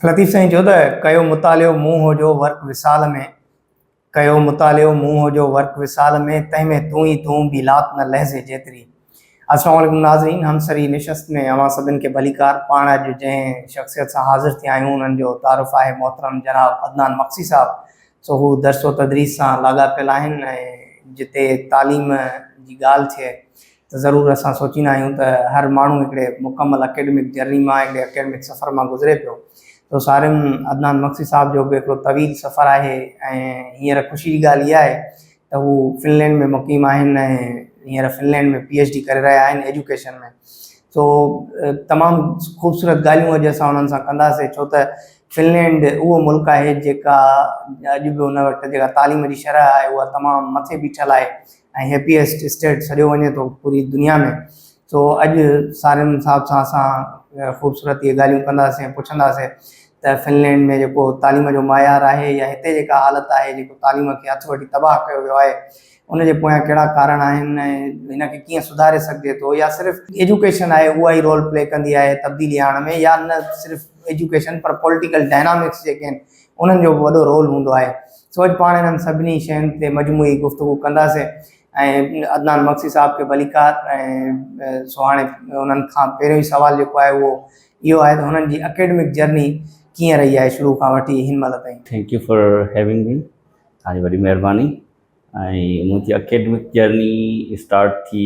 لطيف سائين چيو ته ڪيو مطالعو مون هو جو ورق وصال ۾، ڪيو مطالعو مون هو جو ورق وصال ۾، تنهن ۾ تون ئي تون، ٻي لات نه لحظي جيتري. السلام عليڪم ناظرين همسري نشست ۾ اوهان سڀن کي ڀليڪار پاڻ اڄ جنهن شخصيت سان حاضر ٿيا آهيون انهن جو تعارف آهي محترم جناب عدنان مگسي صاحب سو هو درس و تدريس سان لاڳاپيل آهن ۽ جتي تعليم جي ڳالهه ٿئي ته ضرور اسان سوچيندا آهيون ته هر ماڻهو هڪڙي مڪمل اڪيڊمڪ جرني مان هڪڙي اڪيڊمڪ سفر مان گذري پيو سو سارم عدنان مگسي صاحب جو به هڪڙو طويل سفر آهي ۽ هينئر خوشي جي ڳالهه اها آهي ته هو فنلينڊ ۾ مقيم آهن ۽ هينئر فنلينڊ ۾ پي ايڇ ڊي ڪري رهيا آهن ايجوڪيشن ۾ سو تمام خوبصورت ڳالهيون اڄ اسان انهن سان ڪنداسين ڇو ته فنلينڊ اهو ملڪ آهي جيڪا اڄ به ان وٽ جيڪا تعليم جي شرح آهي اها تمام مٿي بيٺل آهي ۽ هيپيسٽ اسٽيٽ سڏيو وڃي ٿو پوري دنيا ۾ سو اڄ سارين صاحب سان اسان خوبصورت اهي ڳالهيون ڪنداسين پڇنداسين ته فنلينڊ ۾ جيڪو تعليم جو معيار آهي يا هتي جيڪا حالت آهي جيڪو تعليم کي هٿ وٺي تباهه ڪيو ويو آهي ان جي پويان ڪهڙا ڪارڻ آهن ۽ هن کي ڪيئن سڌاري سگهجي ٿو يا صرف ايجوڪيشن آهي اها ئي رول پلي ڪندي آهي تبديلي آڻڻ ۾ يا نه صرف ايجوڪيشن پر پوليٽيڪل ڊائنامڪس جيڪي آهن انهن جو به وڏو رول هوندو آهي سو اڄ پاڻ انهن سڀني شين تي مجموعي گفتگو ڪنداسين ۽ عدنان مگسي صاحب کي ڀليڪار ۽ سو هاڻي انهن کان پهريون سوال جيڪو آهي اهو اهو آهي ته هنن جي اڪيڊمڪ جرني ڪيئن رهي آهي شروع کان وٺي هن مهل تائين. Thank you for having me توهان جي وڏي مهرباني ۽ منهنجي اڪيڊمڪ جرني اسٽارٽ ٿي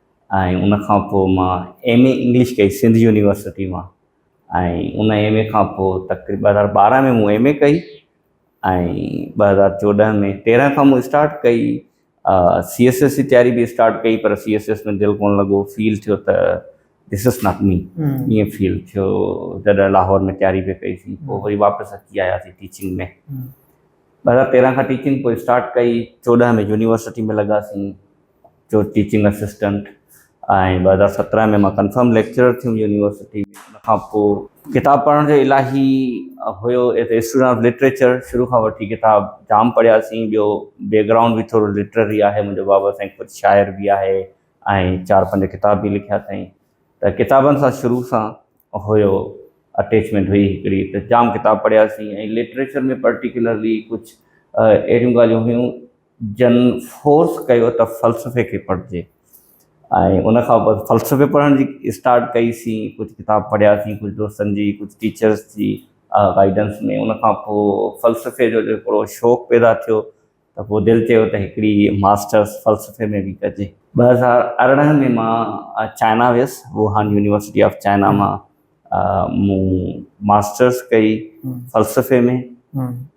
۽ ان کان پوء مان ايم اي انگلش ڪئي سنڌ يونيورسٽي مان ۽ ان ايم اي کان پوء تقريبن ٻه هزار ٻارهن ۾ مون ايم اي ڪئي ۽ ٻه هزار چوڏهن ۾ تيرهن کان مون اسٽارٽ ڪئي سي ايس ايس جي تياري به اسٽارٽ ڪئي پر سي ايس ايس ۾ دل ڪونه لڳو فيل ٿيو ته دس از ناٽ مي ائين فيل ٿيو جڏهن لاهور ۾ تياري به ڪئيسي پوء وري واپس اچي آياسي ٽيچنگ ۾ ٻه هزار تيرهن کان ٽيچنگ پوء اسٽارٽ ڪئي چوڏهن ۾ يونيورسٽي ۾ لڳاسي جو ٽيچنگ اسسٽنٽ ۽ ٻه هزار سترهن ۾ مان ڪنفرم ليڪچرر ٿيم يونيورسٽي ۾ ان کان پوء ڪتاب پڙهڻ جو الاهي هيو as a student of literature شروع کان وٺي ڪتاب جام پڙهياسين ٻيو بيڪ گرائونڊ به ٿورو لٽرري آهي منهنجو بابا سائين خود شاعر به آهي ۽ چار پنج ڪتاب به لکيا اٿائين ته ڪتابن سان شروع سان هيو اٽيچمينٽ هئي هڪڙي ته جام ڪتاب پڙهياسين ۽ لٽريچر ۾ پرٽيڪولرلي ڪجهه اهڙيون ڳالهيون هيون جن فورس ڪيو ته فلسفي کي پڙهجي ۽ ان کان پوء فلسفي پڙهڻ جي اسٽارٽ ڪئي سين ڪجهه ڪتاب پڙهيا سين ڪجهه دوستن جي ڪجهه ٽيچرس جي گائيڊنس ۾ ان کان پوء فلسفي جو هڪڙو شوق پيدا ٿيو ته پوء دل چيو ته هڪڙي ماسٽرس فلسفي ۾ به ڪجي. ٻه هزار ارڙهن ۾ مان چائنا ويس ووهان يونيورسٽي آف چائنا مان مون ماسٽرس ڪئي فلسفي ۾.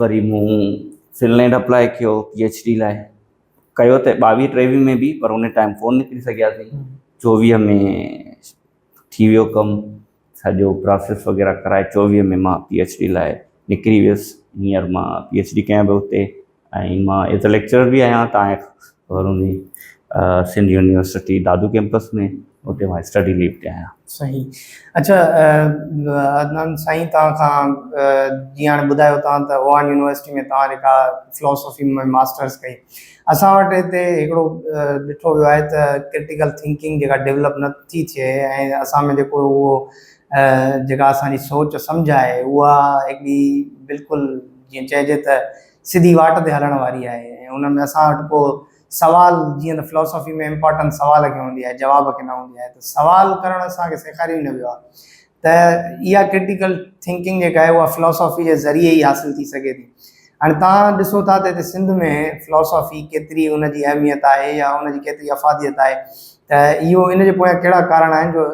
وري مون فنلينڊ اپلائي ڪيو پي ايڇ ڊي لاء ڪيو ته ٻاويهه ٽيويهه ۾ به پر ان ٽائيم ڪون نڪري سگهياسي چوويهه ۾ ٿي ويو ڪم سڄو پراسيس وغيره ڪرائي چوويهه ۾ مان پي ايڇ ڊي لاء نڪري ويس هينئر مان پي ايڇ ڊي ڪيان پيو اتي ۽ مان ايز اي ليڪچرر به آهيان تاڻي بروني سنڌ يونيورسٽي دادو ڪيمپس ۾ اتي مان اسٽڊي ليو تي آهيان. صحيح اڇا عدنان سائين توهان کان جيئن هاڻي ٻڌايو توهان ته اوهان يونيورسٽي ۾ توهان جيڪا فلاسافي ۾ ماسٽرس ڪئي اسان وٽ هتي هڪڙو ڏٺو ويو آهي ته ڪرٽيڪل ٿنڪنگ جيڪا ڊولپ نه ٿي ٿئي ۽ اسان ۾ جيڪو اهو جيڪا اسان جي سوچ سمجهه آهي اها هڪڙي بلڪل جيئن چئجي ته سڌي واٽ تي هلڻ واري آهي ۽ ان ۾ اسان وٽ ڪو سوال جيئن ته فلاسافي ۾ امپارٽنس سوال کي هوندي آهي جواب کي نه هوندي آهي ته سوال ڪرڻ اسان کي سيکاريو ئي نه ويو آهي ته اها ڪرٽيڪل ٿنڪنگ جيڪا آهي اها فلاسافي جي ذريعي ئي حاصل ٿي سگهي ٿي هاڻي تان ڏسو ٿا ته هتي سنڌ ۾ فلاسافي ڪيتري ان جي اهميت آهي يا ان جي ڪيتري افاديت آهي ته اهو ان جي پويان ڪهڙا ڪارڻ آهن جو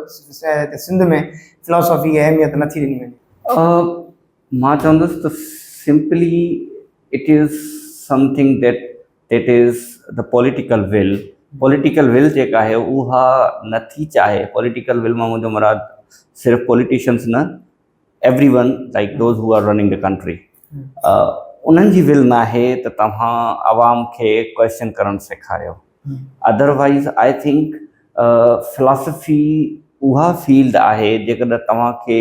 سنڌ ۾ فلاسافي کي اهميت نٿي ڏني وڃي. مان چوندس ته simply it is something that that is ته پوليٽيڪل ول پوليٽيڪل ول جيڪا آهي اها نه ٿي چاهي پوليٽيڪل ول مان منهنجو مراد صرف پوليٽيشنس نه everyone like those who are running the country انهن جي ول نه آهي ته توهان عوام کي ڪوشچن ڪرڻ سيکاريو otherwise I think philosophy اها فيلڊ آهي جيڪڏهن توهان کي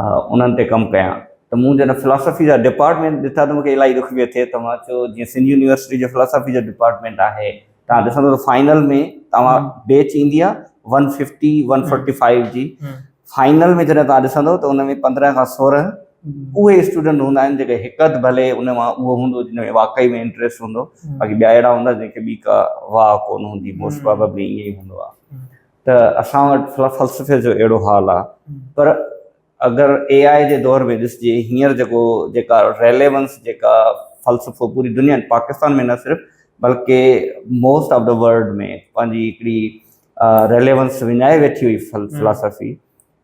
انهن تي ڪم ڪيان ته مون جڏهن فلاسافي جا ڊپارٽمينٽ ڏٺا ته مون کي الاهي ڏک پيو ٿئي ته مان چيو جيئن سنڌ يونيورسٽي جو فلاسافي جو ڊپارٽمينٽ آهي تان ڏسندو ته فائنل ۾ توهان بيچ ايندي آهي one fifty one forty five جي فائنل ۾ جڏهن توهان ڏسندو ته ان ۾ پندرهن کان سورهن اهي اسٽوڊنٽ هوندا آهن جيڪي هڪ اڌ ڀلي ان مان اهو هوندو جن ۾ واقعي ۾ انٽريسٽ هوندو باقي ٻيا اهڙا هوندا جن کي ٻي ڪا واهه ڪونه هوندي موسٽ پراببلي ائين ئي هوندو آهي ته اسان وٽ فلسفي جو اهڙو حال آ پر اگر اي آء جي دور ۾ ڏسجي هينئر جيڪو جيڪا ريليونس جيڪا فلسفو پوري دنيا پاڪستان ۾ نه صرف بلڪه موسٽ آف دا ورلڊ ۾ پنهنجي هڪڙي ريليونس وڃائي ويٺي هئي فلسفي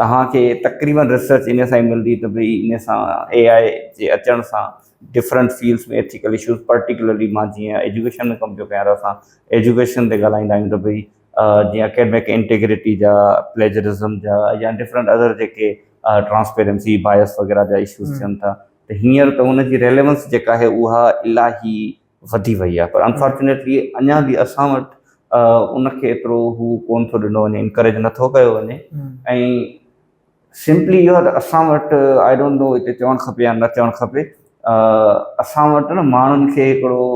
توهان کي تقريبن ريسرچ ان سان ئي ملندي ته ڀئي ان سان اي آء جي اچڻ سان different fields ۾ ethical issues particularly مان جيئن ايجوڪيشن ۾ ڪم پيو ڪيان ته اسان ايجوڪيشن تي ڳالهائيندا آهيون ته ڀئي جيئن اڪيڊمڪ انٽيگريٽي جا پليجرزم جا يا ڊفرنٽ ادر جيڪي ٽرانسپيرنسي بايس وغيره جا اشوز ٿين ٿا ته هينئر ته ان جي ريليونس جيڪا آهي اها الاهي وڌي وئي آهي پر انفارچونيٽلي اڃا به اسان وٽ ان کي ايترو هو ڪون ٿو ڏنو وڃي انڪريج نٿو ڪيو وڃي ۽ سمپلي اهو ته اسان وٽ آئي ڊونٽ نو هتي چوڻ کپي يا نه چوڻ کپي اسان وٽ نه ماڻهن کي هڪڙو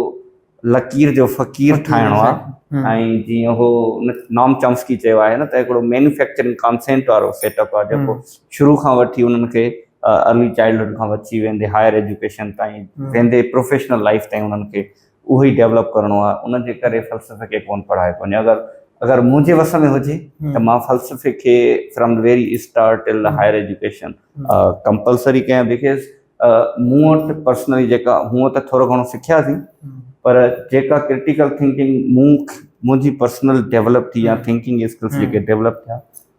لڪير جو فقير ٺاهڻو آهي ۽ جيئن هو نام چامسڪي چيو آهي نه ته هڪڙو مينوفيڪچرنگ ڪانسينٽ وارو سيٽ اپ آهي جيڪو شروع کان وٺي انهن کي ارلي چائلڊهوڊ کان وٺي ويندي هائر ايجوڪيشن تائين ويندي پروفيشنل لائيف تائين انهن کي اهو ئي ڊيولپ ڪرڻو آهي ان جي ڪري فلسفي کي ڪونه پڙهايو وڃي اگر اگر منهنجي وس ۾ هجي ته مان فلسفي کي from very start till the higher education compulsory ڪيان بڪاز مون وٽ پرسنلي جيڪا هونء ته ٿورو گهڻو سکياسين پر جيڪا ڪرٽيڪل ٿنڪنگ مون منهنجي پرسنل ڊيولپ ٿي يا ٿنڪنگ اسڪلس جيڪي ڊيولپ ٿيا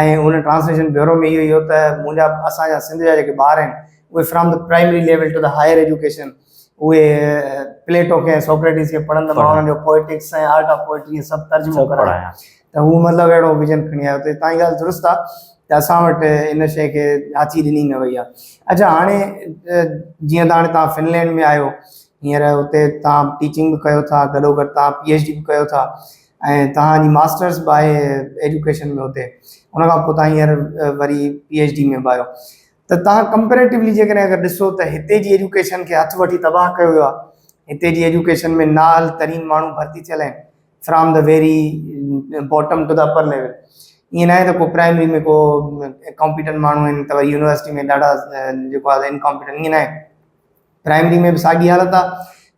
۽ ان ٽرانسليشن بيورو ۾ اهو ئي هو ته منهنجا اسان جا سنڌ جا جيڪي ٻار آهن اهي from the primary level to the higher education اهي پليٽو کي سوڪريٽيز کي پڙهن ته مان انهن جو پوئٽڪس ۽ آرٽ آف پوئٽري ۽ سڀ ترجمو ڪرايان ته هو مطلب اهڙو ويجن کڻي آيو ته تان جي ڳالهه درست آهي ته اسان وٽ ان شيء کي هٿي ڏني نه وئي آهي اڇا هاڻي جيئن ته هاڻي تان فنلينڊ ۾ آهيو هينئر هتي تان ٽيچنگ به ڪيو ٿا گڏو گڏ تان پي ايڇ ڊي به ڪيو ٿا ۽ توهان جي ماسٽرس به آهي ايڊيوڪيشن ۾ اتي ان کان پوء توهان هينئر وري پي ايڇ ڊي ۾ به آهيو ته توهان ڪمپريٽوولي جيڪڏهن اگر ڏسو ته هتي جي ايڊيوڪيشن کي هٿ وٺي تباهه ڪيو ويو آهي هتي جي ايڊيوڪيشن ۾ نااهل ترين ماڻهو ڀرتي ٿيل آهن from the very bottom to the upper level ائين ناهي ته ڪو پرائمري ۾ ڪو ڪامپيٽنٽ ماڻهو آهن ته وري يونيورسٽي ۾ ڏاڍا جيڪو آهي انڪامپيٽنٽ ائين ناهي پرائمري ۾ به ساڳي حالت آ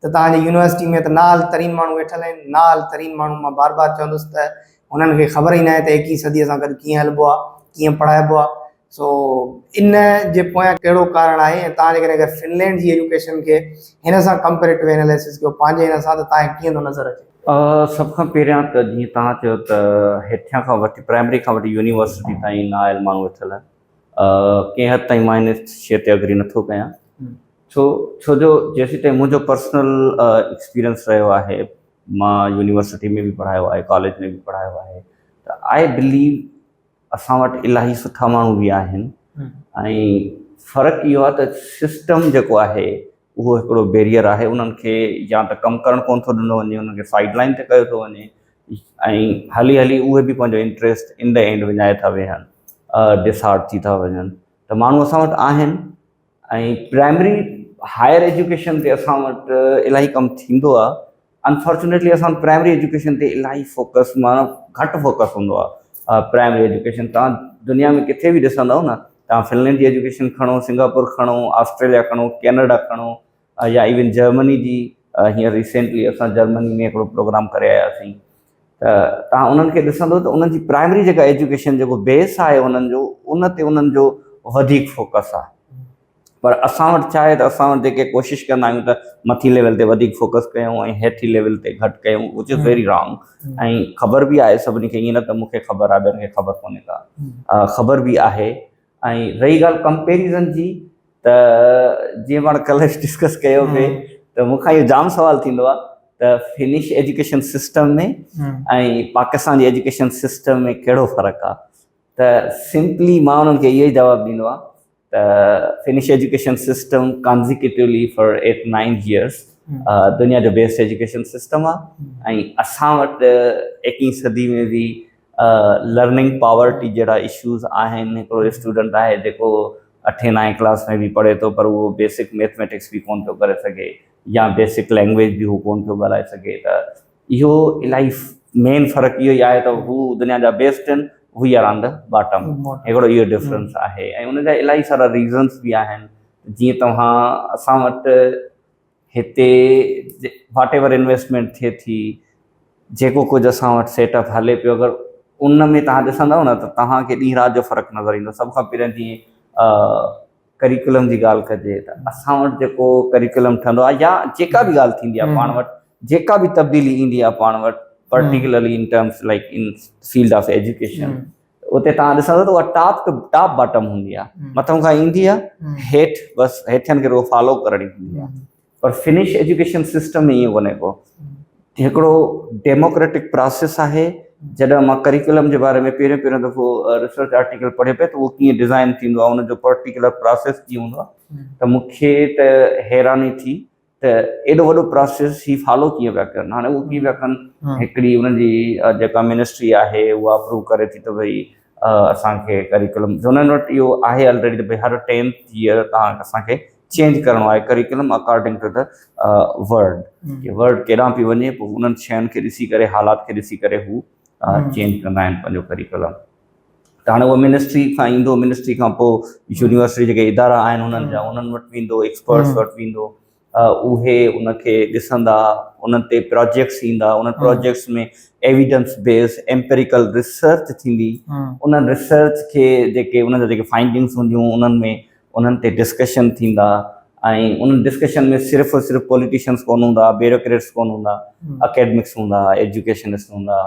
ته توهان جي يونيورسٽي ۾ ته نااهل ترين ماڻهو ويٺل آهن، نااهل ترين ماڻهن مان بار بار چوندس ته هنن کي خبر ئي ناهي ته ايڪيهين صديء سان گڏ ڪيئن هلبو آ، ڪيئن پڙهائبو آ. سو ان جي پويان ڪهڙو ڪارڻ آهي ۽ توهان جيڪڏهن اگر فنلينڊ جي ايجوڪيشن کي هن سان ڪمپيريٽو اناليسس ڪيو پنهنجي هن سان ته توهان کي ڪيئن ٿو نظر اچي؟ سڀ کان پهريان ته جيئن توهان چيو ته هيٺيان کان وٺي پرائمري کان وٺي يونيورسٽي تائين نااهل ماڻهو ويٺل آهن، ڪنهن حد تائين مان ان شيء تي اگري نٿو ڪيان ڇو ڇو جو جيسيتائين منهنجو پرسنل ايڪسپيرينس رهيو آهي مان يونيورسٽي ۾ به پڙهايو آهي ڪاليج ۾ به پڙهايو آهي ته آء بليو اسان وٽ الاهي سٺا ماڻهو به آهن ۽ فرق اهو آهي ته سسٽم جيڪو آهي اهو هڪڙو بيريئر آهي انهن کي يا ته ڪم ڪرڻ ڪونه ٿو ڏنو وڃي انهن کي سائيڊ لائين تي ڪيو ٿو وڃي ۽ هلي هلي اهي به پنهنجو انٽريسٽ ان دي اينڊ وڃائي ٿا ويهن ڊس هارٽ ٿي ٿا وڃن ته ماڻهو اسان وٽ آهن ۽ پرائمري هائر ايجوڪيشن تي اسان وٽ الاهي ڪم ٿيندو آهي انفارچونيٽلي اسان وٽ پرائمري ايجوڪيشن تي الاهي فوڪس معنيٰ گهٽ فوڪس هوندو آهي پرائمري ايجوڪيشن توهان دنيا ۾ ڪٿي به ڏسندؤ نه توهان فنلينڊ جي ايجوڪيشن کڻو سنگاپور کڻو آسٽريليا کڻو ڪينيڊا کڻو يا ايون جرمني جي هينئر ريسينٽلي اسان جرمني ۾ هڪڙو پروگرام ڪري آياسين ته توهان انهن کي ڏسندؤ ته انهن جي پرائمري جيڪا ايجوڪيشن جيڪو بيس آهي انهن جو ان تي انهن جو وڌيڪ فوڪس آهي پر اسان وٽ ڇا آهي ته اسان وٽ جيڪي ڪوشش ڪندا آهيون ته مٿي ليول تي وڌيڪ فوڪس ڪيون ۽ هيٺي ليول تي گهٽ ڪيون وچ از ويري رانگ ۽ خبر به آهي سڀني کي ائين نه ته مون کي خبر آهي ٻين کي خبر ڪونهي ڪا خبر به آهي ۽ رهي ڳالهه ڪمپيريزن جي ته جيئن پاڻ ڪلهه ڊسڪس ڪيو پئي ته مون کان اهو جام سوال ٿيندو آهي ته فنش ايجوڪيشن سسٽم ۾ ۽ پاڪستان جي ايجوڪيشن سسٽم ۾ ڪهڙو فرق آهي ته سمپلي مان انهن کي اهو جواب ڏيندو آهي ته Finnish education system consecutively for eight nine years دنيا جو بيسٽ ايجوڪيشن سسٽم آهي ۽ اسان وٽ ايڪيهين صدي ۾ به لرننگ پاورٽي جهڙا اشوز آهن هڪڙو اسٽوڊنٽ آهي جيڪو اٺين نائين ڪلاس ۾ به پڙهي ٿو پر اهو بيسڪ ميٿميٽڪس به ڪونه ٿو ڪري سگهي يا بيسڪ لينگويج به هو ڪونه ٿو ڳالهائي سگهي ته اهو الائي مين فرق اهو ئي آهي ته هو دنيا جا بيسٽ آهن we are on the bottom هڪڙو اهو ڊفرنس آهي ۽ ان جا الائي سارا ريزنس به آهن جيئن توهان اسان وٽ هتي واٽ ايور انويسٽمينٽ ٿئي ٿي جيڪو ڪجهه اسان وٽ سيٽ اپ هلي پيو اگر ان ۾ توهان ڏسندؤ نه ته توهان کي ڏينهن رات جو فرق نظر ايندو سڀ کان پهريان جيئن ڪريڪولم جي ڳالهه ڪجي ته اسان وٽ جيڪو ڪريڪولم ٺهندو آهي يا جيڪا به ڳالهه ٿيندي آهي پاڻ وٽ جيڪا به تبديلي ايندي آهي پاڻ وٽ particularly in terms like in field of education اتي تان ڏسندو ته اها ٽاپ ٽو ٽاپ باٽم هوندي آهي مٿان کان ايندي آهي هيٺ بس هيٺن کي رڳو فالو ڪرڻي هوندي آهي پر فنش ايجوڪيشن سسٽم ۾ ائين ڪونهي ڪو هڪڙو ڊيموڪريٽڪ پراسيس آهي جڏهن مان ڪريڪولم جي باري ۾ پهريون پهريون دفعو ريسرچ آرٽيڪل پڙهي پئي ته اهو ڪيئن ڊيزائن ٿيندو آهي ان جو پرٽيڪولر پراسيس ڪيئن هوندو آهي ته مون کي ته حيراني ٿي ته ايڏو وڏو پراسيس هي فالو ڪيئن پيا ڪن هاڻي اهو ڪيئن پيا ڪن هڪڙي ان جي جيڪا منسٽري آهي اها اپروو ڪري ٿي ته ڀئي اسانکي ڪريڪولم جو انهن وٽ اهو آهي آلريڊي ته ڀئي هر ٽينٿ ييئر تان اسانکي چينج ڪرڻو آهي curriculum according to the world ڪي ورلڊ ڪيڏانهن پيو وڃي پوء انهن شين کي ڏسي ڪري حالات کي ڏسي ڪري هو چينج ڪندا آهن پنهنجو ڪريڪلم ته هاڻي اهو منسٽري کان ايندو منسٽري کان پوء يونيورسٽي جيڪي ادارا آهن انهن جا انهن وٽ ويندو ايڪسپرٽس وٽ ويندو اهي ان کي ڏسندا انهن تي پروجيڪٽس ايندا انهن projects ۾ evidence base empirical research ٿيندي انهن ريسرچ کي جيڪي انهن جا جيڪي فائنڊنگس هونديون انهن ۾ انهن تي ڊسڪشن ٿيندا ۽ انهن ڊسڪشن ۾ صرف ۽ صرف پوليٽيشنز ڪونه هوندا، بيوروڪريٽس ڪونه هوندا، اڪيڊمڪس هوندا، ايجوڪيشنسٽ هوندا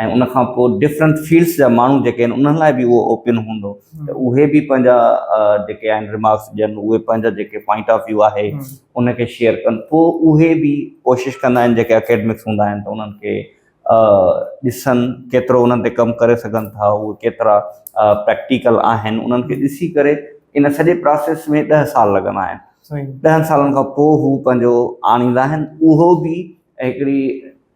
۽ ان کان پوء ڊفرنٽ فيلڊس جا ماڻهو جيڪي آهن انهن لاء به اهو اوپن هوندو ته اهي به پنهنجا جيڪي آهن ريمارڪس ڏين، اهي پنهنجا جيڪي پوائنٽ آف ويو آهي ان کي شيئر ڪن. پوء اهي به ڪوشش ڪندا آهن جيڪي اڪيڊمڪس هوندا آهن ته انهن کي ڏسن ڪيترو انهن تي ڪم ڪري سگهن ٿا اهي ڪيترا پريڪٽيڪل آهن انهن کي ڏسي ڪري ان سڄي پراسيس ۾ ڏهه سال لڳندا آهن ڏهن سالن کان پوء هو پنهنجو آڻيندا آهن اهو به هڪڙي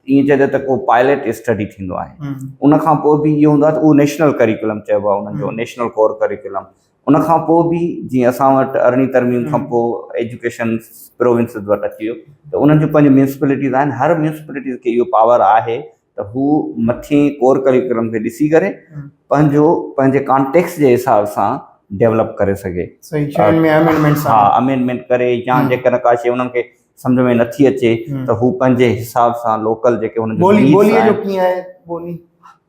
ائين چئجي ته ڪو پائليٽ اسٽڊي ٿيندو آهي ان کان پوء به اهو هوندو آهي ته اهو نيشنل ڪريڪولم چئبو آهي انهن جو نيشنل ڪور ڪريڪولم ان کان پوء به جيئن اسان وٽ ارڙهين ترميم کان پوء ايجوڪيشن پروونسز وٽ اچي ويو ته انهن جون پنهنجون ميونسپلٽيز آهن هر ميونسپلٽيز کي اهو پاور آهي ته هو مٿين ڪور ڪريڪولم کي ڏسي ڪري پنهنجو پنهنجي ڪانٽيڪس جي حساب سان ڊيولپ ڪري سگهي ها امينڊمينٽ ڪري يا جيڪڏهن ڪا شيء انهن کي سمجھ ۾ نٿي اچي ته هو پنهنجي حساب سان لوڪل جيڪي هن جي بولي جو ڪيئن آهي بولي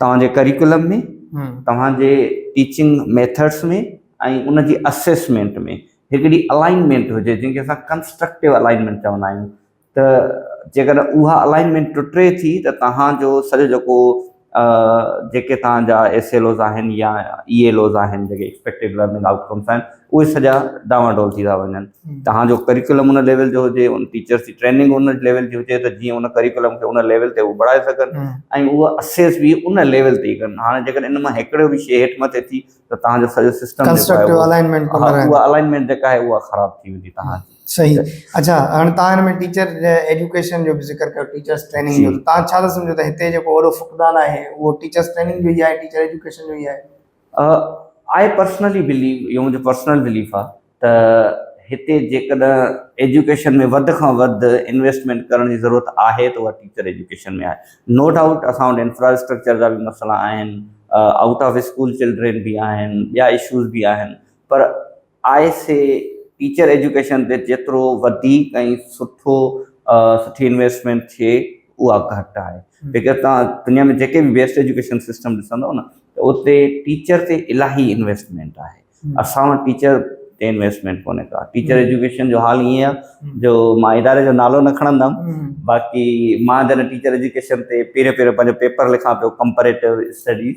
توهان جي ڪريڪولم ۾ توهان جي ٽيچنگ ميٿڊس ۾ ۽ ان جي اسيسمينٽ ۾ هڪڙي الائنمينٽ هجي جنهن کي اسان ڪنسٽرڪٽو الائنمينٽ چوندا آهيون ته جيڪڏهن اها الائنمينٽ ٽٽي ٿي ته توهان جو سڄو جيڪو جيڪي توهان جا ايس ايل اوز آهن يا اي ايل اوز آهن جيڪي ايڪسپيڪٽيڊ لرننگ آئوٽ ڪمس آهن اهي سڄا ڊانوا ڊول ٿي ٿا وڃن. توهان جو ڪريڪولم ان ليول جو هجي، ان ٽيچرس جي ٽريننگ ان ليول جي هجي ته جيئن ان ڪريڪولم کي ان ليول تي هو بڻائي سگهن ۽ اهو اسيس به ان ليول تي ئي ڪن. هاڻي جيڪڏهن ان مان هڪڙو به شيء هيٺ مٿي ٿي ته توهان جو سڄو سسٽم ڪنسٽرڪٽو الائنمينٽ ڪم نه ڪندو. اها الائنمينٽ جيڪا آهي اها خراب ٿي ويندي توهان جي. صحيح. اڇا هاڻي توهان هن ۾ ٽيچر ايڊيوڪيشن جو به ذڪر ڪيو ٽيچرس ٽريننگ جو ته توهان ڇا ٿا سمجهو ته هتي جيڪو وڏو فقدان آهي اهو ٽيچرس ٽريننگ جو ئي آهي ٽيچر ايڊيوڪيشن جو ئي آهي؟ آء پرسنلي بليو، اهو منهنجو پرسنل بليف آ ته هتي جيڪڏهن ايجوڪيشن ۾ وڌ کان وڌ انويسٽمينٽ ڪرڻ جي ضرورت آهي ته اها ٽيچر ايجوڪيشن ۾ آهي. نو ڊائوٽ اسان وٽ انفراسٽرڪچر جا به مسئلا آهن، آئوٽ آف اسڪول چلڊرين به آهن، ٻيا اشوز به آهن پر آء سي ٽيچر ايجوڪيشن تي جيترو وڌيڪ ۽ سٺو سٺي انويسٽمينٽ ٿئي اها گهٽ آهي جيڪر توهان دنيا ۾ جيڪي به بيسٽ ايجوڪيشن سسٽم ڏسندو نه ته اتي ٽيچر تي الاهي انويسٽمينٽ آهي اسان وٽ ٽيچر تي انويسٽمينٽ ڪونهي ڪا ٽيچر ايجوڪيشن جو حال ائين آهي جو مان اداري جو نالو نه کڻندم باقي مان جڏهن ٽيچر ايجوڪيشن تي پيري پيري پنهنجو پيپر لکان پيو ڪمپريٽو اسٽڊيز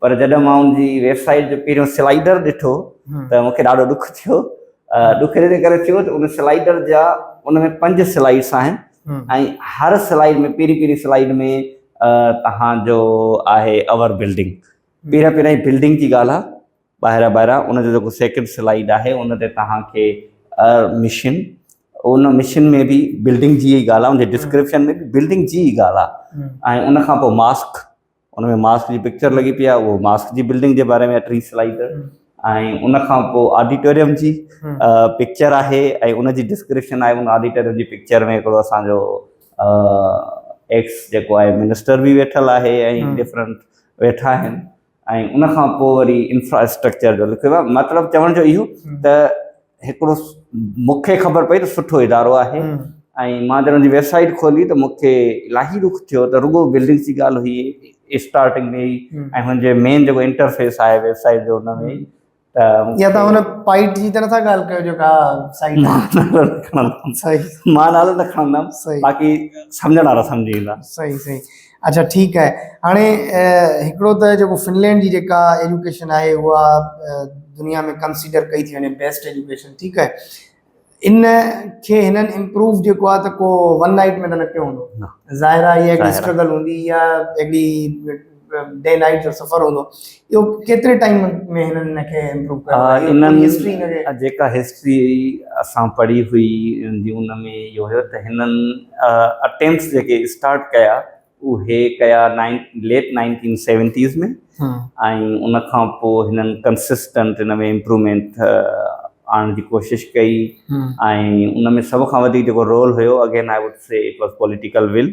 پر جڏهن مان ان جي ويب سائيٽ جو پهريون سلائيڊر ڏٺو ته مون کي ڏاڍو ڏک ٿيو. ڏک ان ڪري ٿيو ته ان سلائيڊر جا ان ۾ پنج سلائيڊس آهن ۽ هر سلائيڊ ۾ پهرين پهرين سلائيڊ ۾ توهان جو آهي اوور بلڊنگ پهريان پهريان بلڊنگ جي ڳالهه آهي ٻاهران ٻاهران ان جو جيڪو سيڪنڊ سلائيڊ آهي ان تي توهان کي مشين ان مشين ۾ به بلڊنگ جي ڳالهه آهي ان جي ڊسڪرپشن ۾ به بلڊنگ جي ڳالهه آهي ۽ ان کان پوء ماسڪ ان ۾ ماسڪ جي پڪچر لڳي پئي آهي اهو ماسڪ جي بلڊنگ جي باري ۾ آهي ٽي سلائيڊ ۽ ان کان پوء آڊيٽوريم جي پڪچر آهي ۽ ان جي ڊسڪرپشن آهي ان آڊيٽوريم جي پڪچر ۾ هڪڙو اسانجو ايڪس جيڪو آهي منسٽر به ويٺل آهي ۽ ڊفرنٽ ويٺا آهن ۽ ان کان پوء وري انفراسٽرڪچر جو لکيو آهي مطلب چوڻ جو اهو ته هڪڙو مون کي خبر پئي ته سٺو ادارو آهي ۽ مان جڏهن ان جي ويب سائيٽ کولي ته مون کي الاهي ڏک ٿيو ته رڳو بلڊنگس جي ڳالهه هئي اسٽارٽنگ ۾ ئي ۽ هن جو مين جيڪو انٽرفيس آهي ويب سائيٽ جو ان ۾ ته يا تون هن پائيٽ جي ته نٿا ڳالهه ڪيو جيڪا سائيٽ مان نالو نه کڻندم باقي سمجهڻ وارا سمجهي ويندا صحيح صحيح اڇا ٺيڪ آهي هاڻي هڪڙو ته جيڪو فنلينڊ جي جيڪا ايجوڪيشن آهي اها دنيا ۾ ڪنسيڊر ڪئي ٿي وڃي بيسٽ ايجوڪيشن ٺيڪ آهي ان کي هنن امپروو جيڪو آهي ته ڪو ون نائٽ ۾ ته نه ڪيو هوندو ظاهر آهي هيء اسٽرگل هوندي يا هڪڙي ڊي نائٽ جو سفر هوندو اهو ڪيتري ٽائيم ۾ هنن ان کي امپروو ڪيو آهي انهن هسٽري ان کي جيڪا هسٽري اسان پڙهي هئي جي ان ۾ اهو هيو ته هنن اٽيمپس جيڪي اسٽارٽ ڪيا اهي ڪيا نائن ليٽ نائنٽين سيونٽيز ۾ ۽ ان کان پوء هنن ڪنسسٽنٽ ان ۾ امپروومينٽ آڻڻ جي ڪوشش ڪئي ۽ ان ۾ سڀ کان وڌيڪ جيڪو رول هيو again I would say it was political will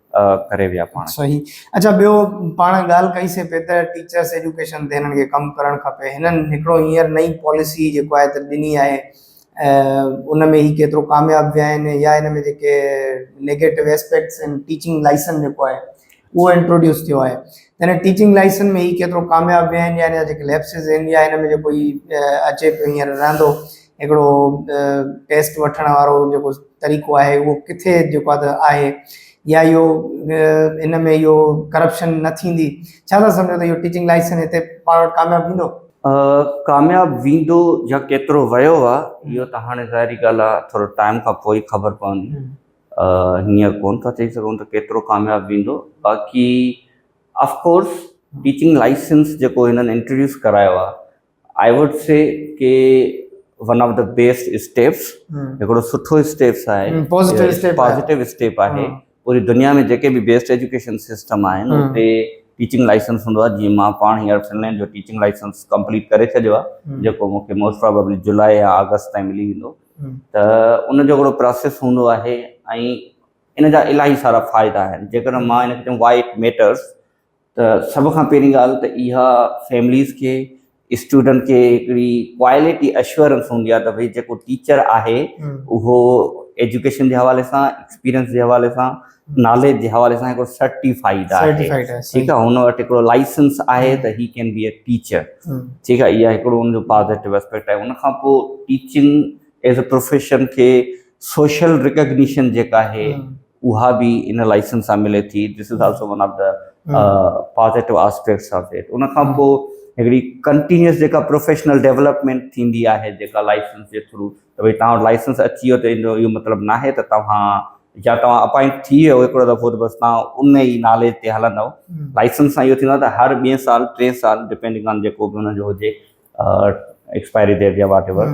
ڪري ويا پاڻ. صحيح اچا ٻيو پاڻ ڳالهه ڪئي سي پي ته ٽيچرس ايجوڪيشن تي هنن کي ڪم ڪرڻ کپي هنن هڪڙو هينئر نئي پاليسي جيڪو آهي ته ڏني آهي ان ۾ هي ڪيترو ڪامياب ويا آهن يا ان ۾ جيڪي نيگيٽو اسپيڪٽس آهن ٽيچنگ لائسن جيڪو آهي اهو انٽروڊيوس ٿيو آهي تنهن ٽيچنگ لائسن ۾ هي ڪيترو ڪامياب ويا آهن يا ان جا جيڪي ليپسز آهن يا ان ۾ جيڪو هي اچي پيو هينئر رهندو هڪڙو ٽيسٽ وٺڻ وارو جيڪو طريقو آهي اهو ڪٿي جيڪو آهي آهي يا اهو ان ۾ اهو ڪرپشن نه ٿيندي ڇا ٿا سمجهو ته اهو ٽيچنگ لائسنس هتي پاڻ وٽ ڪامياب ٿيندو ڪامياب ويندو يا ڪيترو ويو آ اهو ته هاڻي ظاهري ڳالهه آ ٿورو ٽائيم کان پوء ئي خبر پوندي هينئر ڪون ٿا چئي سگهون ته ڪيترو ڪامياب ويندو باقي آف ڪورس ٽيچنگ لائسنس جيڪو هنن انٽروڊيوس ڪرايو آ آئي ووڊ سي ڪي one of the best steps هڪڙو سٺو اسٽيپس آهي پوزيٽو اسٽيپ پوزيٽو اسٽيپ آهي پوري دنيا ۾ جيڪي به بيسٽ ايجوڪيشن سسٽم آهن اتي ٽيچنگ لائسنس هوندو آهي جيئن مان پاڻ هينئر فنلينڊ جو ٽيچنگ لائسنس ڪمپليٽ ڪري ڇڏيو آهي جيڪو مون کي موسٽ پرابيبلي جولاء يا آگسٽ تائين ملي ويندو ته ان جو هڪڙو پروسيس هوندو آهي ۽ ان جا الاهي سارا فائدا آهن جيڪڏهن مان هن کي چيم وائي اٽ ميٽرس ته سڀ کان پهرين ڳالهه ته اها فيمليز کي اسٽوڊنٽ کي هڪڙي ڪواليٽي اشورنس هوندي آهي ته ڀئي جيڪو ٽيچر آهي اهو ايجوڪيشن جي حوالي سان ايڪسپيرينس جي حوالي سان ناليج جي حوالي سان هڪڙو سرٽيفائيڊ آهي ٺيڪ آهي هن وٽ هڪڙو لائسنس آهي ته هي ڪين بي اي ٽيچر ٺيڪ آهي اها هڪڙو ان جو پازيٽو اسپيڪٽ آهي ان کان پوء ٽيچنگ ايز اي پروفيشن کي سوشل رڪگنيشن جيڪا آهي اها به ان لائسنس سان ملي ٿي this is also one of the positive aspects of it ان کان پوء هڪڙي ڪنٽينيوس جيڪا پروفيشنل ڊيولپمينٽ ٿيندي آهي جيڪا لائسنس جي ٿرو ته ڀائی تان وٽ لائسنس اچي ويو ته ان جو اهو مطلب نه آهي ته توهان يا توهان اپائنٽ ٿي ويو هڪڙو دفعو ته بس توهان ان ئي ناليج تي هلندو لائسنس سان اهو ٿيندو آهي ته هر ٻئي سال ٽئين سال ڊپينڊنگ آن جيڪو به ان جو هجي ايڪسپائري ڊيٽ يا واٽ ايور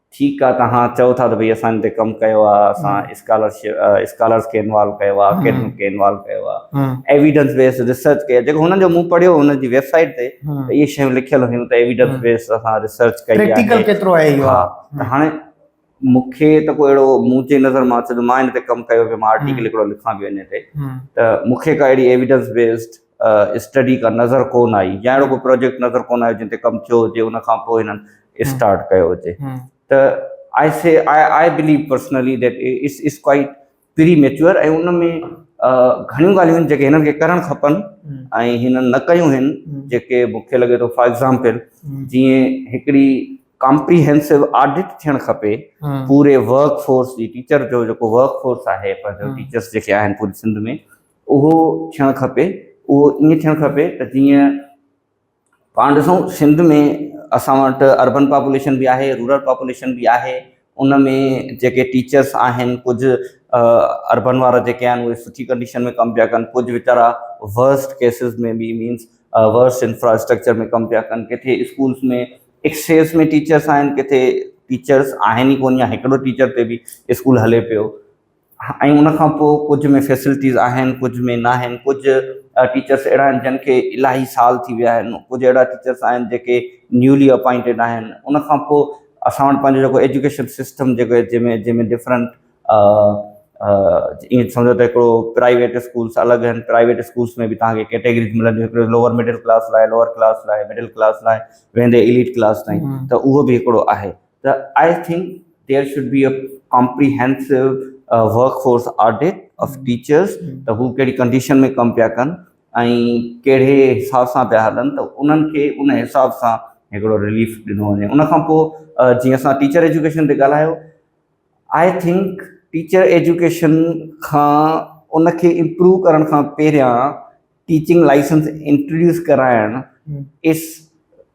ٺيڪ آ توهان چئو ٿا ته ڀئي اسان ان تي ڪم ڪيو آ اسان اسڪالرشپ اسڪالرس کي انوالو ڪيو آ اڪيڊمڪ کي انوالو ڪيو آ ايويڊنس بيس ريسرچ ڪئي جيڪو هنن جو مون پڙهيو هنن جي ويب سائيٽ تي اهي شيون لکيل هيون ته ايويڊنس بيس اسان ريسرچ ڪئي آ پريڪٽيڪل ڪيترو آهي اهو ها ته هاڻي مون کي ته ڪو اهڙو مون جي نظر مان ڇو جو مان ان تي ڪم ڪيو پيو مان آرٽيڪل هڪڙو لکان پيو ان تي ته مون کي ڪا اهڙي ايويڊنس بيسڊ اسٽڊي ڪا نظر ڪونه آئي يا اهڙو ڪو پروجيڪٽ نظر ڪونه آيو جنهن تي ڪم ٿيو هجي ان کان پوء هنن اسٽارٽ ڪيو هجي ته I see I I believe personally that it's it's quite premature ۽ ان ۾ گهڻيون ڳالهيون آهن جيڪي هنن کي ڪرڻ کپن ۽ هنن نه ڪيون آهن جيڪي مون کي لڳي ٿو فار ايگزامپل جيئن هڪڙي ڪامپريهنسو آڊٽ ٿيڻ کپي پوري ورڪ فورس جي ٽيچر جو جيڪو ورڪ فورس آهي پنهنجو ٽيچرس جيڪي آهن پوري سنڌ ۾ اهو ٿيڻ کپي، اهو ائين ٿيڻ کپي ته جيئن پاڻ ڏسون سنڌ ۾ اسان وٽ اربن پاپوليشن به آهي، رورل پاپوليشن به آهي، ان ۾ جيڪي ٽيچرس آهن ڪجهه اربن وارا جيڪي آهن اهي سٺي ڪنڊيشن ۾ ڪم پيا ڪن، ڪجهه ويچارا ورسٽ ڪيسز ۾ به مينس ورسٽ انفراسٽرڪچر ۾ ڪم پيا ڪن، ڪٿي اسڪولس ۾ ايڪسيس ۾ ٽيچرس آهن، ڪٿي ٽيچرس آهن ئي ڪونه يا هڪڙو ٽيچر تي به اسڪول هلي پيو، ۽ ان کان پوء ڪجهه ۾ فيسلٽيز آهن ڪجهه ۾ ناهن ڪجهه ٽيچرس اهڙا آهن جن کي الاهي سال ٿي ويا آهن ڪجهه اهڙا ٽيچرس آهن جيڪي نيولي اپائنٽيڊ آهن ان کان پوء اسان وٽ پنهنجو جيڪو ايجوڪيشن سسٽم جيڪو آهي جنهن ۾ جنهن ۾ ڊفرنٽ ائين سمجهو ته هڪڙو پرائيويٽ اسڪولس الڳ آهن پرائيويٽ اسڪولس ۾ به تهانکي ڪيٽيگريز ملنديون هڪڙو لوور مڊل ڪلاس لاء لوور ڪلاس لاء مڊل ڪلاس لاء ويندي ايليٽ ڪلاس تائين ته اهو به هڪڙو آهي ته I think there should be a comprehensive workforce audit of teachers ته هو ڪهڙي ڪنڊيشن ۾ ڪم پيا ڪن ۽ ڪهڙي حساب سان پيا هلن ته انهن کي ان حساب سان هڪڙو رليف ڏنو وڃي ان کان پوء جيئن اسان ٽيچر ايجوڪيشن تي ڳالهايو آئي ٿنڪ ٽيچر ايجوڪيشن کان ان کي امپروو ڪرڻ کان پهريان ٽيچنگ لائسنس انٽروڊيوس ڪرائڻ از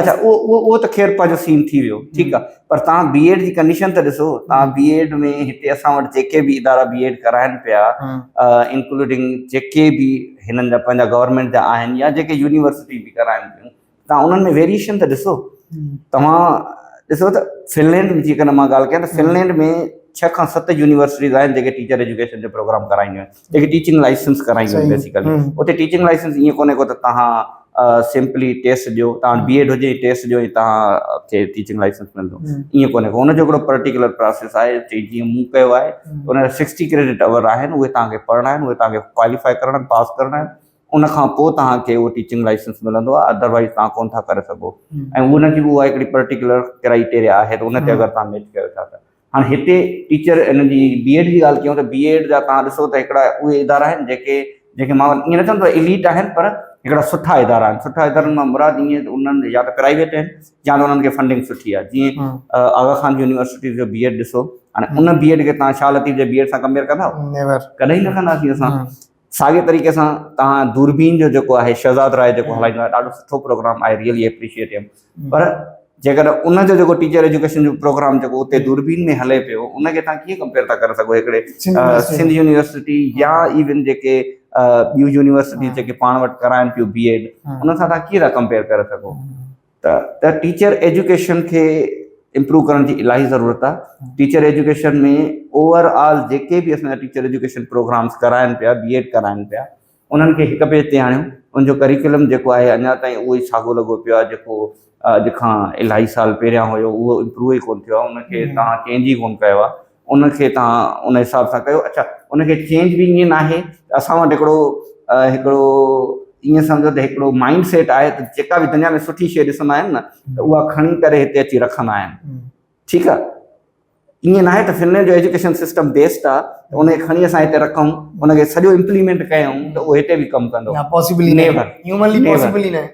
اچا اهو اهو ته خير پنهنجو سين ٿي ويو ٺيڪ آ پر توهان بي ايڊ جي ڪنڊيشن ته ڏسو توهان بي ايڊ ۾ هتي اسان وٽ جيڪي به ادارا بي ايڊ ڪرائن پيا انڪلوڊنگ جيڪي به هنن جا پنهنجا گورنمينٽ جا آهن يا جيڪي يونيورسٽي به ڪرائن پيون توهان انهن ۾ ويريشن ته ڏسو توهان ڏسو ته فنلينڊ جيڪڏهن مان ڳالهه ڪيان ته فنلينڊ ۾ ڇهه کان ست يونيورسٽيز آهن جيڪي ٽيچر ايجوڪيشن جو پروگرام ڪرائينديون آهن هڪ ٽيچنگ لائسنس ڪرائيندو آهي بيسيڪلي اتي ٽيچنگ لائسنس ائين ڪونهي ڪو ته تهان سمپلي ٽيسٽ ڏيو تهان وٽ بي ايڊ هجي ٽيسٽ ڏيو ۽ تهان کي ٽيچنگ لائسنس ملندو ائين ڪونهي ڪو ان جو هڪڙو پرٽيڪولر پراسيس آهي چي جيئن مون ڪيو آهي ان جا سڪسٽي ڪريڊٽ آور آهن اهي تهان کي پڙهڻا آهن اهي تهان کي ڪواليفائي ڪرڻا آهن پاس ڪرڻا آهن ان کان پوء تهان کي اهو ٽيچنگ لائسنس ملندو آهي ادروائز تهان ڪونه ٿا ڪري سگهو ۽ ان جي به اها هڪڙي پرٽيڪولر ڪرائيٽيريا آهي ته ان تي اگر تهان ميچ ڪيو ٿا ته هاڻي هتي ٽيچر ان جي بي ايڊ جي ڳالهه ڪيون ته بي ايڊ جا توهان ڏسو ته هڪڙا اهي ادارا آهن جيڪي جن کي مان ائين نه چوندو آهيان ايليٽ آهن پر هڪڙا سٺا ادارا آهن سٺا ادارن مان مراد ائين ته انهن يا ته پرائيويٽ آهن يا ته انهن کي فنڊنگ سٺي آهي جيئن آغا خان يونيورسٽيز جو بي ايڊ ڏسو هاڻي ان بي ايڊ کي توهان شاهه لطيف جي بي ايڊ سان ڪمپيئر ڪندا نيور ڪڏهن ئي نه ڪنداسين اسان ساڳي طريقي سان توهان دوربين جو جيڪو آهي شهزاد راء جيڪو هلائيندو آهي ڏاڍو سٺو پروگرام آهي ريئلي اپريشيئيٽ هيم پر جيڪڏهن ان جو جيڪو ٽيچر ايجوڪيشن جو پروگرام جيڪو اتي دوربين ۾ هلي پيو ان کي تان ڪيئن ڪمپيئر ٿا ڪري سگهو هڪڙي سنڌ يونيورسٽي يا ايون جيڪي ٻيون يونيورسٽي جيڪي پاڻ وٽ ڪرائن پيو بي ايڊ ان سان تان ڪيئن ٿا ڪمپيئر ڪري سگهو ته ته ٽيچر ايجوڪيشن کي امپروو ڪرڻ جي الاهي ضرورت آهي ٽيچر ايجوڪيشن ۾ اوور آل جيڪي به اسان جا ٽيچر ايجوڪيشن پروگرامس ڪرائن پيا بي ايڊ ڪرائن پيا انهن کي هڪ پيج تي آڻيو ان جو ڪريڪولم جيڪو آهي اڃا تائين اهو ئي ساڳو لڳو پيو آهي جيڪو اڄ کان الاهي سال پهريان هيو اهو امپروو ئي ڪونه ٿيو آهي ان کي تهان چينج ئي ڪونه ڪيو آهي ان کي توهان ان حساب سان ڪيو اڇا ان کي چينج به ائين ناهي ته اسان وٽ هڪڙو هڪڙو ائين سمجهو ته هڪڙو مائنڊ سيٽ آهي ته جيڪا به دنيا ۾ سٺي شيء ڏسندا آهن نه ته اها کڻي ڪري هتي اچي رکندا آهن ٺيڪ آهي ائين ناهي ته فنلينڊ جو ايجوڪيشن سسٽم بيسٽ آهي ته ان کي کڻي اسان هتي رکون ان کي سڄو امپليمينٽ ڪيون ته اهو هتي به ڪم ڪندو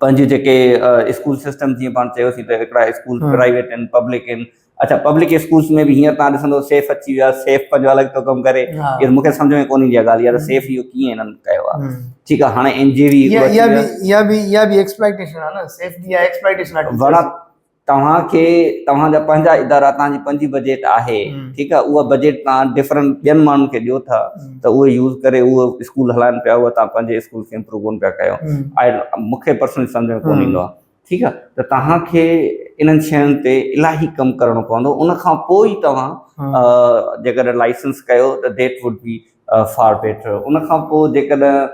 پنهنجي جيڪي اسڪول سسٽم جيئن پاڻ چيوسين ته هڪڙا اسڪول پرائيويٽ آهن پبلڪ آهن اچا پبلڪ اسڪولس ۾ به هينئر تان ڏسندو سيف اچي ويو آهي سيف پنهنجو الڳ ٿو ڪم ڪري اهو مونکي سمجهه ۾ ڪونه ايندي آهي ڳالهه يار سيف اهو ڪيئن هنن ڪيو آهي ٺيڪ آهي هاڻي اين جي وي اها به اها به اها به اها به ايڪسپلائيٽيشن آهي نه سيف جي اها ايڪسپلائيٽيشن آهي توهان کي توهان جا پنهنجا ادارا توهان جي پنهنجي بجيٽ آهي ٺيڪ آهي اها بجيٽ توهان ڊفرنٽ ٻين ماڻهن کي ڏيو ٿا ته اهي يوز ڪري اهو اسڪول هلائن پيا اهو توهان پنهنجي اسڪول کي امپروو ڪونه پيا ڪيو آء مون کي پرسنلي سمجهه ۾ ڪونه ايندو آهي ٺيڪ آهي ته توهان کي انهن شين تي الاهي ڪم ڪرڻو پوندو ان کان پوء ئي توهان جيڪڏهن لائسنس ڪيو ته that would be far better ان کان پوء جيڪڏهن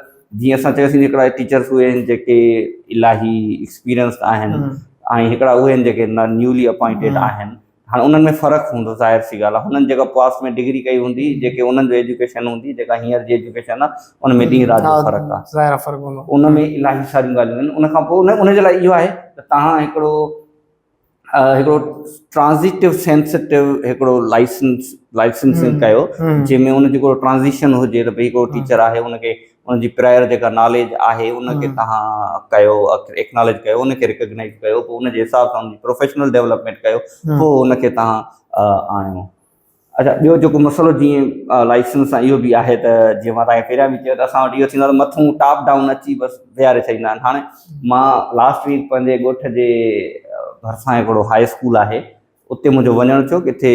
جيئن اسان چيوسين هڪڙا ٽيچرس اهي آهن جيڪي الاهي ايڪسپيرينسڊ آهن ۽ هڪڙا اهي آهن جيڪي نيولي اپوائنٽيڊ آهن هاڻي انهن ۾ فرق هوندو ظاهر سي ڳالهه آهي هنن جيڪا پاس ۾ ڊگري ڪئي هوندي جيڪي انهن جو ايجوڪيشن هوندي جيڪا هينئر جي ايجوڪيشن آهي ان ۾ ڏينهن رات جو فرق آهي ظاهر فرق هوندو ان ۾ الاهي ساريون ڳالهيون آهن ان کان پوء ان جي لاء اهو آهي ته تهان هڪڙو هڪڙو ٽرانزيٽو سينسٽو هڪڙو لائسنس لائسنسنگ ڪيو جنهن ۾ ان جو هڪڙو ٽرانزيشن هجي ته ڀئي هڪڙو ٽيچر آهي ان کي ان جي پراير جيڪا ناليج آهي ان کي تهان ڪيو ايڪناليج ڪيو ان کي ريڪگنائز ڪيو پوء ان جي حساب سان ان جي پروفيشنل ڊيولپمينٽ ڪيو پوء ان کي تهان آڻيو اچا ٻيو جيڪو مسئلو جيئن لائسنس سان اهو به آهي ته جيئن مان تاکي پهريان به چيو ته اسان وٽ اهو ٿيندو آهي مٿون ٽاپ ڊائون اچي بس ويهاري ڇڏيندا آهن هاڻي مان لاسٽ ويڪ پنهنجي ڳوٺ جي ڀرسان هڪڙو هاء اسڪول آهي اتي منهنجو وڃڻ ٿيو ڪٿي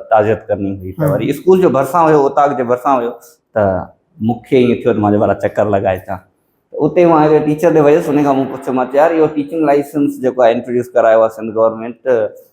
تعزيت ڪرڻي هئي ته وري اسڪول جو ڀرسان هيو اوطاق جي ڀرسان هيو ته مونکي ائين ٿيو ته مان چيو چڪر لڳائي اچان اتي مان هڪڙي ٽيچر ڏي ويس ان کان مون پڇيو مان چيو يار اهو ٽيچنگ لائسنس جيڪو آهي انٽروڊيوس ڪرايو آهي سنڌ گورنمنٽ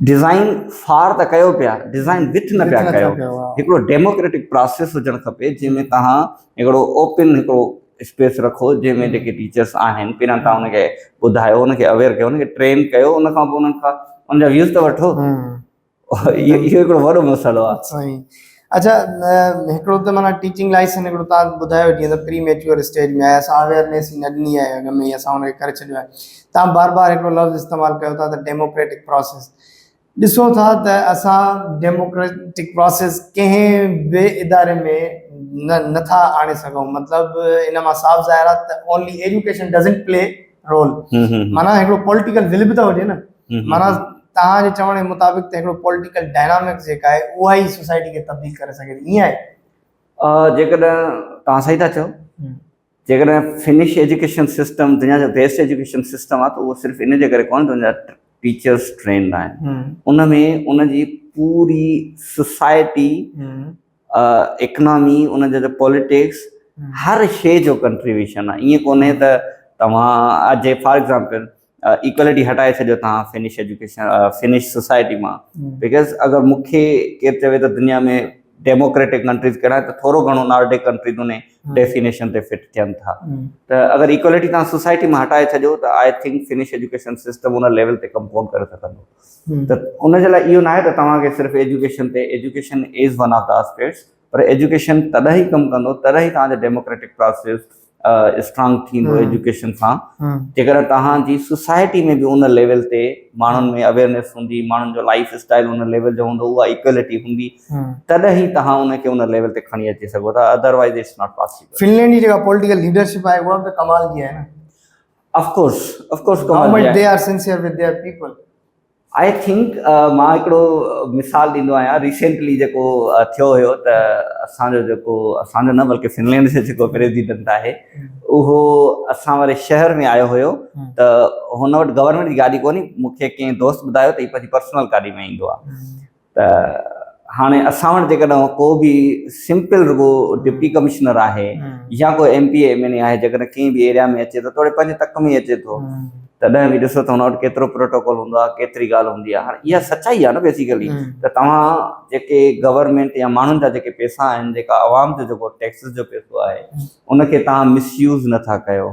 ڊزائين فار ته ڪيو پيا ڊزائين وٿ نه پيا ڪيو هڪڙو ڊيموڪريٽڪ پراسيس هجڻ کپي جنهن ۾ توهان هڪڙو اوپن هڪڙو اسپيس رکو جنهن ۾ جيڪي ٽيچرس آهن پهريان تان ان کي ٻڌايو ان کي اويئر ڪيو ان کي ٽرين ڪيو ان کان پوء انهن کان ان جا ويوز ته وٺو اهو هڪڙو وڏو مسئلو آهي اچا هڪڙو ته معنيٰ ٽيچنگ لائسنس هڪڙو تان ٻڌايو جي ته پري ميچور اسٽيج ۾ آهي اسان اويرنيس ئي نه ڏني آهي ان ۾ اسان ان کي ڪري ڇڏيو آهي تان بار بار هڪڙو لفظ استعمال ڪيو ٿا ته ڊيموڪريٽڪ پروسيس ڏسو ٿا ته اسان ڊيموڪريٽڪ پروسيس ڪنهن به اداري ۾ نه نٿا آڻي سگهون مطلب ان مان صاف ظاهر آهي ته only education doesn't play role معنيٰ هڪڙو پوليٽيڪل ول به ته هجي نه معنيٰ توهان جي چوڻ جي مطابق ته هڪڙو پوليٽيڪل ڊائنامڪس جيڪا آهي اها ئي سوسائٽي کي تبديل ڪري سگهي ٿي ائين آهي؟ جيڪڏهن توهان صحيح ٿا چئو جيڪڏهن فنش ايجوڪيشن سسٽم دنيا جو بيسٽ ايجوڪيشن سسٽم آهي ته اهو صرف ان جي ڪري ڪونهي ته ان جا ٽيچرس ٽرينڊ آهن ان ۾ ان جي پوري سوسائٽي اڪنامي ان جا پوليٽڪس هر شيء جو ڪنٽريبيوشن آهي ائين ڪونهي ته توهان جي فار ايگزامپل ايڪوالٽي هٽائي ڇڏيو توهان فنش ايجوڪيشن فنش سوسائٽي مان بڪاز اگر مون کي ڪير چوي ته دنيا ۾ ڊيموڪريٽڪ ڪنٽريز ڪهڙا ته ٿورو گهڻو نارڊڪ ڪنٽريز ان ڊيفينيشن تي فٽ ٿين ٿا ته اگر ايڪوالٽي توهان سوسائٽي مان هٽائي ڇڏيو ته I think Finnish education system ان ليول تي ڪمپاؤنڊ ڪري سگهندو ته ان جي لاء اهو ناهي ته توهان کي صرف ايجوڪيشن تي education is one of the aspects پر ايجوڪيشن تڏهن ئي ڪم ڪندو تڏهن ئي توهان جو ڊيموڪريٽڪ پراسيس اسٽرانگ ٿيندو ايجوڪيشن سان جيڪڏهن توهان جي سوسائٽي ۾ به ان ليول تي ماڻهن ۾ اويئرنيس هوندي ماڻهن جو لائف اسٽائل ان ليول جو هوندو اها ايڪويلٽي هوندي تڏهن ئي توهان ان کي ان ليول تي کڻي اچي سگهو ٿا otherwise it's not possible Finland جي جيڪا پوليٽيڪل ليڊرشپ آهي اها به ڪمال جي آهي نه اف ڪورس اف ڪورس ڪمال جي آهي how much they are sincere with their people I think مان هڪڙو مثال ڏيندو آهيان ريسينٽلي جيڪو ٿيو هيو ته اسان جو جيڪو اسان جو نه بلڪه فنلينڊ جو جيڪو پريزيڊنٽ آهي اهو اسان واري شهر ۾ آيو هيو ته هن وٽ گورنمينٽ جي گاڏي ڪونهي مونکي ڪنهن دوست ٻڌايو ته هي پنهنجي پرسنل گاڏي ۾ ايندو آهي ته هاڻي اسان وٽ جيڪڏهن ڪو به سمپل رڳو ڊپٽي ڪمشنر آهي يا ڪو M P M N A آهي جيڪڏهن ڪنهن به ايريا ۾ اچي ٿو توڙي پنهنجي تڪ ۾ اچي ٿو تڏهن به ڏسو ته هن وٽ ڪيترو پروٽوڪول هوندو آهي ڪيتري ڳالهه هوندي آهي هاڻي اها سچائي آهي نه بيسيڪلي ته توهان جيڪي گورنمينٽ يا ماڻهن جا جيڪي پيسا آهن جيڪا عوام جو جيڪو ٽيڪسز جو پيسو آهي ان کي تهان مس يوز نٿا ڪيو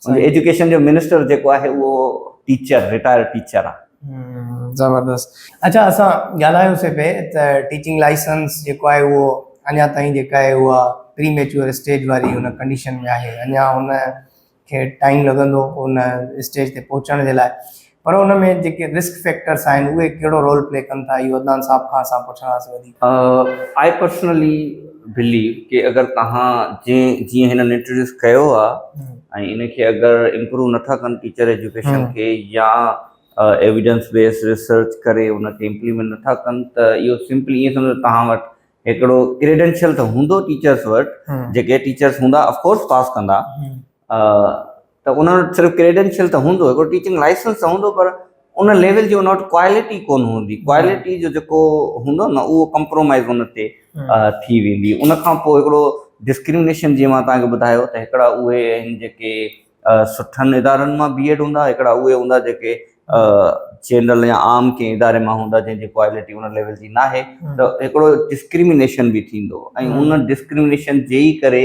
سائين ايجوڪيشن جو منسٽر جيڪو آهي اهو ٽيچر رٽائر ٽيچر آ. زبردست اچا اسان ڳالهايو سي پي ته ٽيچنگ لائسنس جيڪو آهي اهو اڃا تائين جيڪا آهي اها پري ميچوئر اسٽيج واري ان ڪنڊيشن ۾ آهي اڃا ان کي ٽائيم لڳندو ان اسٽيج تي پهچڻ جي لاء پر ان ۾ جيڪي رسڪ فيڪٽرس آهن اهي ڪهڙو رول پلي ڪن ٿا اهو عدنان صاحب کان اسان پڇنداسين وڌيڪ. آء پرسنلي بليو ڪي اگر توهان جنهن جيئن هنن انٽروڊيوس ڪيو آ ۽ ان کي اگر امپروو نٿا ڪن ٽيچر ايجوڪيشن کي يا ايويڊنس بيس ريسرچ ڪري ان کي امپليمينٽ نٿا ڪن ته اهو سمپلي ائين سمجهو توهان وٽ هڪڙو ڪريڊنشل ته هوندو ٽيچرس وٽ جيڪي ٽيچرس هوندا اف ڪورس پاس ڪندا. ته ان وٽ صرف ڪريڊينشل ته هوندو هڪڙو ٽيچنگ لائسنس ته هوندو پر ان ليول جي ان وٽ ڪوالٽي ڪون هوندي ڪوالٽي جو جيڪو هوندو نه اهو ڪمپرومائز ان تي ٿي ويندي ان کان پوء هڪڙو ڊسڪرمنيشن جي مان تان کي ٻڌايو ته هڪڙا اهي آهن جيڪي سٺن ادارن مان بي ايڊ هوندا هڪڙا اهي هوندا جيڪي جنرل يا عام ڪنهن اداري مان هوندا جنهن جي ڪوالٽي ان ليول جي ناهي ته هڪڙو ڊسڪرمنيشن به ٿيندو ۽ ان ڊسڪرمنيشن جي ئي ڪري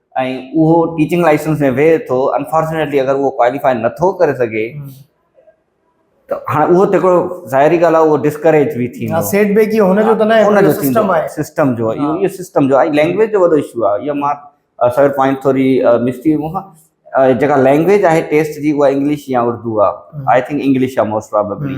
۽ اهو ٽيچنگ لائسنس ۾ ويهي ٿو انفارچونيٽلي اگر اهو ڪواليفاء نٿو ڪري سگهي ته هاڻي اهو ته هڪڙو ظاهري ڳالهه آهي اهو ڊسڪريج به ٿيندو آهي سيٽ بيڪ هي هن جو ته نه آهي هن جو سسٽم آهي سسٽم جو اهو اهو سسٽم جو آهي لينگويج جو وڏو اشو آهي اهو مان سر پوائنٽ ٿوري مس ٿي مون کان جيڪا لينگويج آهي ٽيسٽ جي اها انگلش يا اردو آهي آئي ٿنڪ انگلش آهي موسٽ پرابيبلي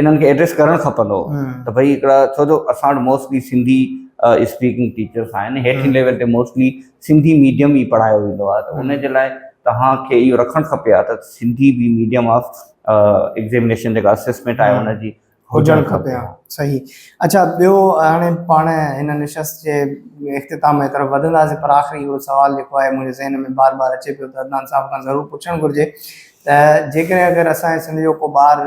انهن کي ايڊريس ڪرڻ کپندو ته ڀئي هڪڙا ڇو جو اسان وٽ موسٽلي سنڌي اسپيڪنگ ٽيچرس آهن هيٺين ليول تي موسٽلي سنڌي ميڊيم ئي پڙهايو ويندو آهي ته ان جي لاء توهان کي اهو رکڻ کپي ها ته سنڌي به ميڊيم آف ايگزيمنيشن جيڪا اسيسمينٽ آهي ان جي هجڻ کپي ها صحيح اڇا ٻيو هاڻي پاڻ هن نشست جي اختتام جي طرف وڌنداسين پر آخري هڪڙو سوال جيڪو آهي منهنجي ذهن ۾ بار بار اچي پيو ته عدنان صاحب کان ضرور پڇڻ گهرجي ته جيڪڏهن اگر اسان جي سنڌ جو ڪو ٻار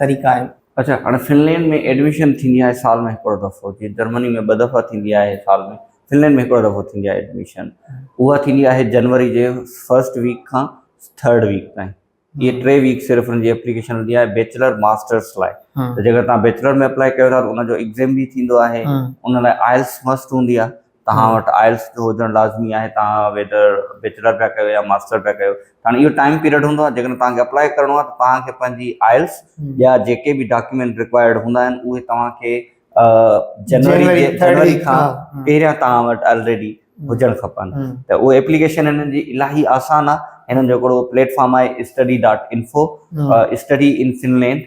طريقا آهن. اڇا هاڻي فنلينڊ ۾ ايڊميشن ٿيندي آهي سال ۾ هڪڙو دفعو جيئن جرمني ۾ ٻه دفعا ٿيندي آهي سال ۾ فنلينڊ ۾ هڪڙو دفعو ٿيندي آهي ايڊميشن اها ٿيندي آهي جنوري جي فرسٽ ويڪ کان ٿرڊ ويڪ تائين اهي ٽي ويڪ صرف ان جي اپليڪيشن هوندي آهي بيچلر ماسٽرس لاء ته جيڪر تهان بيچلر ۾ اپلائي ڪيو ٿا ته ان جو ايگزيم به ٿيندو آهي ان لاء آئلس مسٽ هوندي آهي توهان وٽ آئلس جو هجڻ لازمي آهي توهان ويدر بيچلر پيا ڪيو يا ماستر پيا ڪيو هاڻي اهو ٽائيم پيريڊ هوندو آهي جيڪڏهن توهان کي اپلائي ڪرڻو آهي ته توهان کي پنهنجي آئلس ٻيا جيڪي به ڊاڪيومينٽ رڪوائرڊ هوندا آهن اهي توهان کي جنوري جنوري کان پهريان توهان وٽ آلريڊي هجڻ کپن ته اهو ايپليڪيشن هنن جي الاهي آسان آهي هنن جو هڪڙو پليٽ فارم آهي study dot info study in Finland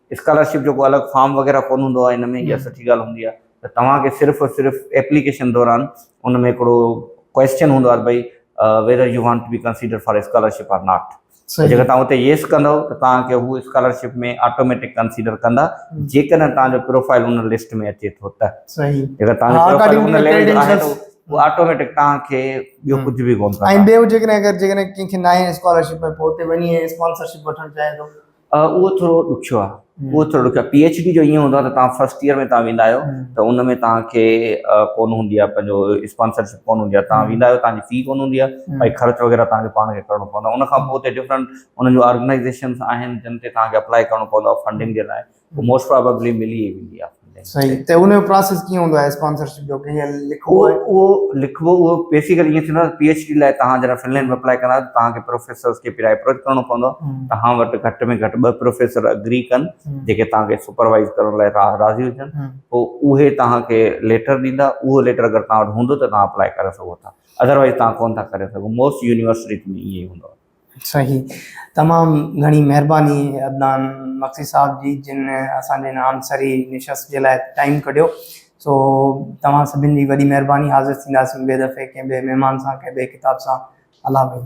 scholarship جو ڪو الڳ فارم وغيره ڪون هوندو آهي ان ۾ اها سٺي ڳالهه هوندي آهي ته توهان کي صرف ۽ صرف ايپليڪيشن دوران ان ۾ هڪڙو ڪوئسچن هوندو آهي ته ڀئي whether you want to be consider for scholarship or not ته جيڪر توهان اتي ييس ڪندؤ ته توهان کي هو اسڪالرشپ ۾ آٽوميٽڪ ڪنسيڊر ڪندا جيڪڏهن توهان جو پروفائل ان لسٽ ۾ اچي ٿو ته جيڪر توهان جو پروفائل ان ليول جو آهي ته اهو آٽوميٽڪ توهان کي ٻيو ڪجهه به ڪون ڪندا ۽ ٻيو جيڪڏهن اگر جيڪڏهن ڪنهن کي ناهي اسڪالرشپ ۾ پوء اتي وڃي اسپانسرشپ وٺڻ چاهي ٿو اهو ٿورو ڏکيو آهي، اهو ٿورو ڏکيو آهي، پي ايڇ ڊي جو ائين هوندو آهي ته توهان فرسٽ ايئر ۾ توهان ويندا آهيو ته ان ۾ توهان کي ڪونه هوندي آهي پنهنجو اسپانسرشپ ڪونه هوندي آهي توهان ويندا آهيو توهان جي في ڪونه هوندي آهي ۽ خرچ وغيره توهان کي پاڻ کي ڪرڻو پوندو آهي ان کان پوء اتي ڊفرنٽ انهن جون آرگنائيزيشنس آهن جن تي توهان کي اپلائي ڪرڻو پوندو آهي فنڊنگ جي لاء موسٽ پرابيبلي ملي ويندي آهي. صحيح ته ان جو پروسيس ڪيئن هوندو آهي اسپانسرشپ جو ڪيئن لکبو آهي اهو لکبو اهو بيسيڪلي ائين ٿيندو آهي پي ايڇ ڊي لاء تهان جڏهن فنلينڊ ۾ اپلائي ڪندا ته تهان کي پروفيسرز کي پهريان اپروچ ڪرڻو پوندو تهان وٽ گهٽ ۾ گهٽ ٻه پروفيسر اگري ڪن جيڪي تهان کي سپروائز ڪرڻ لاء راضي هجن پوء اهي تهان کي ليٽر ڏيندا اهو ليٽر اگر تهان وٽ هوندو ته تهان اپلائي ڪري سگهو ٿا اڌروائز تهان ڪونه ٿا ڪري سگهو موسٽ يونيورسٽيز ۾ ائين ئي هوندو آهي صحيح تمام گهڻي مهرباني عدنان مگسي صاحب جي جن اسان جي هن عنصري نشست جي لاء ٽائيم ڪڍيو سو توهان سڀن جي وڏي مهرباني حاضر ٿينداسين ٻئي دفعي ڪنهن ٻئي مهمان سان ڪنهن ٻئي ڪتاب سان الله ڀائي.